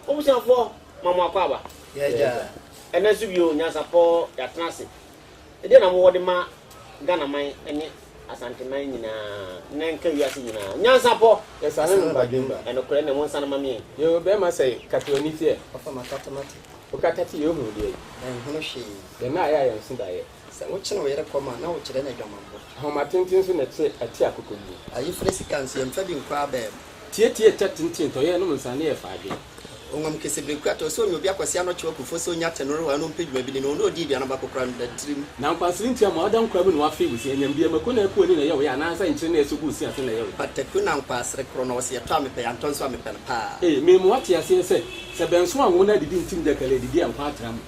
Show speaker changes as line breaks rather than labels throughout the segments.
Obusuafoɔ ma mo akɔ aba.
Ɛnɛ nso bio
nyansapɔ yɛatena ase. Ɛdeɛ na mowɔ de ma Ghana man ne Asante man nyinaa na nka wiase nyinaa nyansapɔ. Yɛsane no badwemba.
Ɛnokorɛ ne monsane ma
me. Yoo bɛɛma sɛe
kata w'ani teɛ. Ɔfa makata mate.
Okata te yɛ
ohunu deɛ. Menhunu hwee.
Yɛn nna ayɛ a yɛn nso
daeɛ. Sɛ wokyere wo yere kɔm
a, na wokyerɛ no adwamammɔ. Nhoma tenten so na
ɛte ɛte akokoduru. Ayeforo sika nso,
yɛmfa bi nkɔ abaa mu. Tietie kyɛ
tenten ntɔ, yɛnnom nsa ne yɛfa adwene. Ɔnam kɛse bere
ku atɔ, sɛ ɔnya obi akɔse ano kyew akufo, sɛ ɔnya atɛnorowa ano mpɛ dwuma bi ne no, ɔne ɔdi aduan no baako koraa no da tirim. Na nkwansiri nti ama
ɔda nkura mu na wafee wo se, ɛnyam bi, ɛmako na ɛko ani na ɛyɛ wo ya, anaasɛ nkyere na ɛsɔ gu wo se ase na ɛyɛ wo ya. Pataku na nkwansere
koro no, ɔse yɛtɔ a mepɛ, yɛantɔ nso a mepɛ no paa. Ee, mema woate aseɛ
sɛ, sɛ bɛnso anwo na adidi ntim da kali adidi a nkwa atra mu.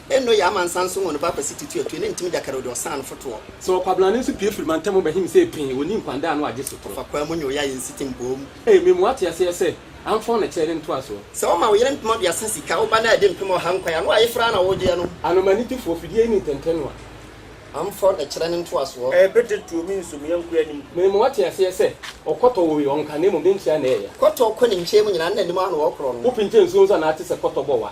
Eno ye amansan
nso wɔn ba Kwasi Tutu Atue ne Ntim Gyakare ode ɔsan no fotoɔ. Sɛ Ɔkwabena no nso pue
firi mantam bɛhe me sɛ pee, ɔnni nkwandaa ano agye sotorɔ. Ɔfa kwaa mu nyɛ ɔyɛ a yɛnsi
te mboom. Ee, me moa te aseɛ
sɛ, amfɔn na kyɛɛ ne ntoasoɔ. Sɛ wo ma wo yere mpem aduasa
sika, wo ba no adi mpem ɔha nkwan a, na wayeforo ara na wogyeɛ no. Anoma anigyefoɔ, fidie
yi ne ntɛntɛnoa. Amfɔn na kyerɛ ne ntoasoɔ. Ee, bɛdɛ tuo me nso
me yɔnko anim. Me moa te aseɛ sɛ,
ɔkɔtɔ wɔ wei, ɔnka, na mmom ne nkyea na ɛɛya. Kɔtɔ kɔ ne nkyea mu
nyinaa, na anim ara na ɔɔkorɔ no. Wo pinkyɛ nsuo nso anaa te
sɛ kɔtɔ bɔ wa.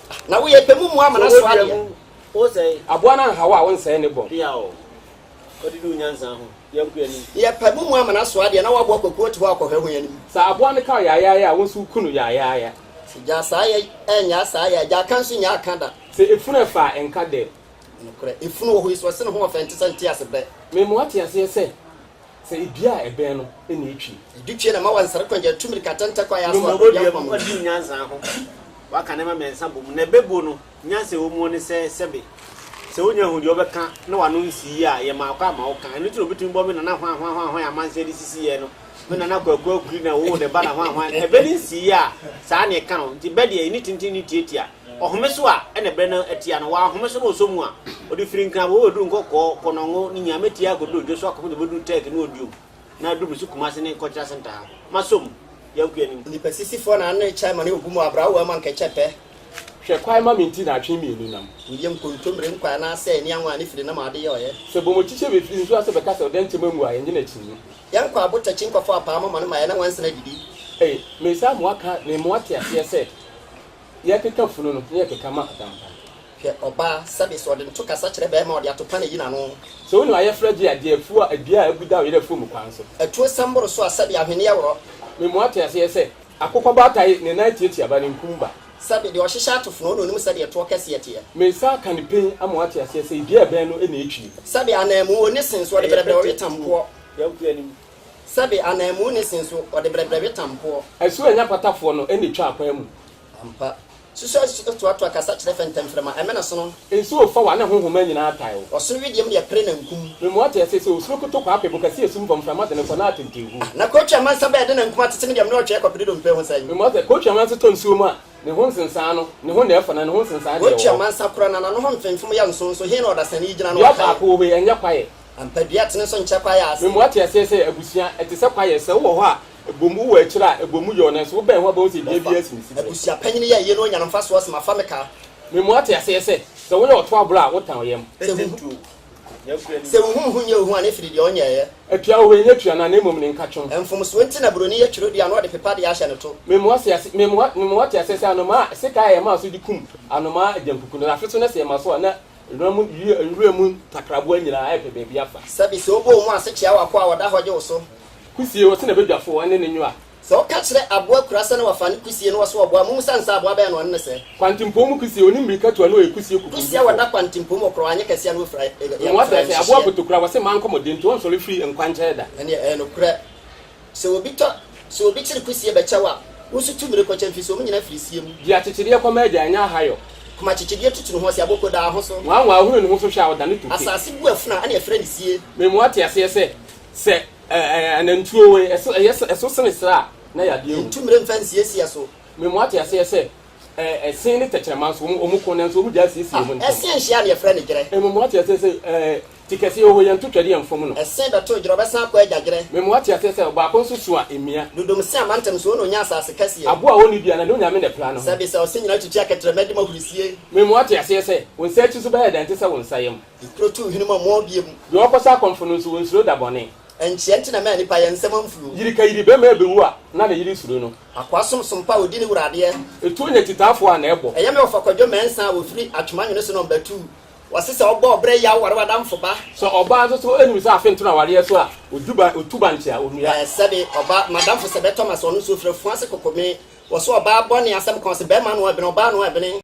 Na woyɛ pɛ mu mu
ama n'aso adeɛ.
Aboa no anhaw a
wonsɛe ne bɔn.
Yɛ pɛ mu mu ama
n'aso adeɛ na woaboa kwaku ɔte hɔ a kɔhwɛ ho anim. Sɛ aboa no kaw
yaayaaya a wo nso woku no yaayaaya. Gyaa saa yɛ
ɛnyaa saa yɛ gyaa ka nso nyaa ka da. Sɛ efunu ɛfa a
ɛnka dɛ. Nokorɛ efunu wɔ
hɔ yi so ɔse ne ho ɔfɛ nte sɛ ntease bɛ. Mema woate aseɛ
sɛ. Sɛ edua a ɛbɛn no na etwi. Edu pie na ma wansɛre
kwan gya atu mirika tɛntɛ kɔ ayaase wɔ baabi a nkwa wɔ. Di nyansa
ho. Waka nneɛma mmiɛnsa bɔ mu na ɛbɛbuo no. Nyansa a ɛwɔ mu ne sɛ, sɛbe, sɛ wonya hu deɛ wobɛka na w'ano nsi yie a, yɛ ma akɔ ama woka. Ɛno nti na obɛtumi bɔ me nana hwanhwanhwanhwan amansan de sisi yɛɛ no, me nana Kwaku Akwiri na ɔwoo ne ba na hwanhwan. Ɛbɛ no nsi yie a, saa na ɛka no. Nti bɛ deɛ, ɛnni tenten, ɛnni tiatia. Ɔhome so a na berɛ no atia no, wanhome so na ɔsɔ mu a, ɔde firi Nkrabɔ bɛduru nkɔkɔɔ, kɔnɔngo, ne Nyame tia kɔduru Dwoso akɔfo de bɛduru Turkey ne Odiom na aduru Mesu Kumase ne Nkɔkyerɛ Asentaa. Masɔ mu. Yɛnko anim. Nipasisifoɔ na
ano rekyɛ ma ne obu mu abra wo ama nkɛkyɛ pɛ. Hwɛ kwae ma
me nti na atwe mmienu nam. Ndeɛ nkontommire
nkwa anaasɛ ani anwa ne firi nam a ɔde yɛ ɔyɛ. Sɛ bɔmɔ kyikyɛ me firi
nsuo ase bɛka sɛ ɔdɛ nkyɛ manwu a yɛnye no akyinnye. Yɛnko abo takyi
nkɔfɔ apaa mɔmɔ no ma yɛne nwansena adidi. Ei, mesa amoa ka
ne mmoa te aseɛ sɛ. Yɛkeka funu no na yɛkeka ma adampa no. Hwɛ ɔbaa
sɛbe sɛ ɔde nto kasa kyerɛ bɛɛma ɔde atopa na yi n'ano. Sɛ wonim ayɛfrɛ gye
adeɛ afuo a adua a abu da ɔyere afuo mu kwan so. Atuo sɛm boro so a
sɛbe ahweneɛ worɔ. Me mmoa te aseɛ
sɛ. Akokɔ baatae ne nan tiatia ba ne nkum ba. Sɛbe deɛ ɔhyehyɛ
ato fono na onim sɛdeɛ toɔ kɛseɛ teɛ. Me nsa aka ne pen
ama wate aseɛ sɛ dua a ɛbɛn no na etwie. Sɛbe ananmu wɔ ne
sen so ɔde brɛbrɛ ɔwe tamboɔ.
Sɛbe
ananmu ne se nso, ɔde brɛbrɛ we tampoɔ. Ɛso anya patafoɔ
no na etwa akwan mu. Ampa.
Susu a ɛtoatoa kasa kyerɛ fɛ ntɛmfrɛma, ɛmɛ na sono. Nsuo fa wa ne honhoma
nyinaa tae wo. Ɔsono wideɛm deɛ pere na
nkum. Memoa te ase sɛ osuro
koto kɔ ape bo kɛseɛ sum fam mframa dene kɔ na atenten gu. Na kootwe amansa bɛɛ
de na nkum atete me deɛ mene ɔtweɛ kɔpede dompe ɛho sɛn. Memoa sɛ kootwe amansa tɔ
nsuo mu a ne ho nsensaa no ne ho na ɛfɔ na ne ho nsensaa deɛ ɛwɔ hɔ. Kootwe amansa kora na n'ano
ho mfemfem yɛ nson nso he na ɔdasani yi gyina na ɔkae. Dua baako wɔ hɔ yi ɛnyɛ
kwaeɛ. Ampa, dua tene so
nkyɛ kwaeɛ ase. Me mu ate aseɛ sɛ
abusua, ɛte sɛ kwaeɛ. Sɛ wowɔ hɔ a, ɛbɔ mu wɔ akyire a, ɛbɔ mu yɛ wo, nanso wobɛn ho a, wobɛhu sɛ dua biara si ne siberɛ. Abusua panyin yɛ ayie na
ɔnya no mfasoɔ sen afa me kaa. Me mu ate aseɛ
sɛ, sɛ woyɛ ɔto aborɔ a, wotɛn wo yam.
Sɛ wo huhu nyɛ wo hu a, ne firi deɛ ɔnyɛeɛ. Atua wo hɔ ɛnyɛ tua
no a, na mmom ne nkatwom. Mfomsoɔ nti na buroni
yɛ twerɛdua na ɔde pepa adeɛ ahyɛ ne to.
Me mu ate aseɛ sɛ, anomaa a sekan a yɛmaa so de kum anomaa agyankuku no, afe so na sɛ yɛma so a, na. Nnora mu wira, nwura mu takraboa nyinaa ɛrepɛ baabi afa. Sɛbi sɛ wobɔ wo mu ase
kyea w'akoa a ɔda hɔ gye wo so. Kusie, wɔse na
badwafo wɔne no nwoa. Sɛ woka kyerɛ aboa
kura sɛ na wafa ne kusie na ɔso ɔboa a, mommisa no sɛ aboa bɛn na ɔne no sɛ. Kwantempɔn mu kusie, ɔne
mmirikatu a na ɔyɛ kusie kukurudufoɔ. Kusie a wɔda kwantempɔn
mu ɔkorɔ a anyɛ kɛseɛ a na ɔfira yɛ mmoa fɛfɛ. Aboa
kotokura, wɔse mma nkɔ mmɔden nti ɔnsɔre firi nkwankyɛɛ da. Ɛneɛ ɛyɛ nokorɛ.
Sɛ obi tɔ, sɛ obi kyere kusie bɛ kyɛw a, wo nso tu mire kɔ kyɛ mfiri sɛ ɔmo nyinaa firi sie mu. Di akyekyedeɛ kɔ ma agya
ɛnyɛ ahayɔ. Koma kyekyedeɛ tutu
ne ho ase a, boko da ho so. Nwanwa ɔhunu ne ho so hwɛ a,
ɔdane tope. Asaase bu afunu a, ɛna ɛfrɛ
ne sie. Me mu ate aseɛ sɛ,
sɛ anantwie o, ɛyɛ sɛ ɛso sene serɛ a, na yadeɛ wom. Ntu mire mfa nsiesie
ɛso.
Me mu ate aseɛ
sɛ,
ɛsen ne tɛkyerɛma nso, wɔn ko, nanso wɔn gyaa siesie wɔn ntɛm. Ɛsen hyia a, na yɛfrɛ ne
gyerɛ. Me mu ate aseɛ sɛ,
Ti kɛseɛ oho yɛ nto twɛdeɛ mfom no. Ɛse bɛto ɛgyerɛ ɔbɛsan akɔ
agya gyerɛ. Memu ate aseɛ sɛ ɔbaako
nso su a ɛmia. Dodom se amantam so
ɔna ɔnya asaase kɛseɛ. Aboɔ a ɔnni dua na ne Onyame
na ɛpra ne ho. Sɛbe sɛ ɔse nyina twitwi
akɛtrɛma di mo ahurisie. Memu ate aseɛ sɛ
wo nsa akyi so bɛyɛ dɛ ɛnte sɛ wo nsa yam. Ekuro tu hwene mu a moɔ
bie mu. Deɛ ɔkɔsa akɔmfo no nso
ɔnsuro da bɔne. Ɛnkyɛ nti na ɛma
nnipa yɛ nsɛm amfuro. Yiri ka yiri bɛma ɛbɛwu
a na ne yere suro no. Akoa som som pa a ɔdi
ne wura adeɛ. Etuo nya kyitaafoɔ
a na ɛbɔ. Ɛyɛ me ɔfakwadwo mɛnsa
a ɔfiri atwoma nwene so na ɔmba tuu. Wɔse sɛ ɔbɔ ɔbrɛ yaw ware w'adamfo ba. Sɛ ɔbaa nso so
nim sɛ afe nto no awareɛ so a, ɔtu bankye a ɔnnua. Sɛbe ɔbaa
m'adamfo sɛ bɛtɔ m'ase ɔno nso ɔfiri afunu ase koko me. Wɔse ɔbaa bɔne asɛm ka ɔse bɛrima ano ɛbene ɔbaa ano ɛbene.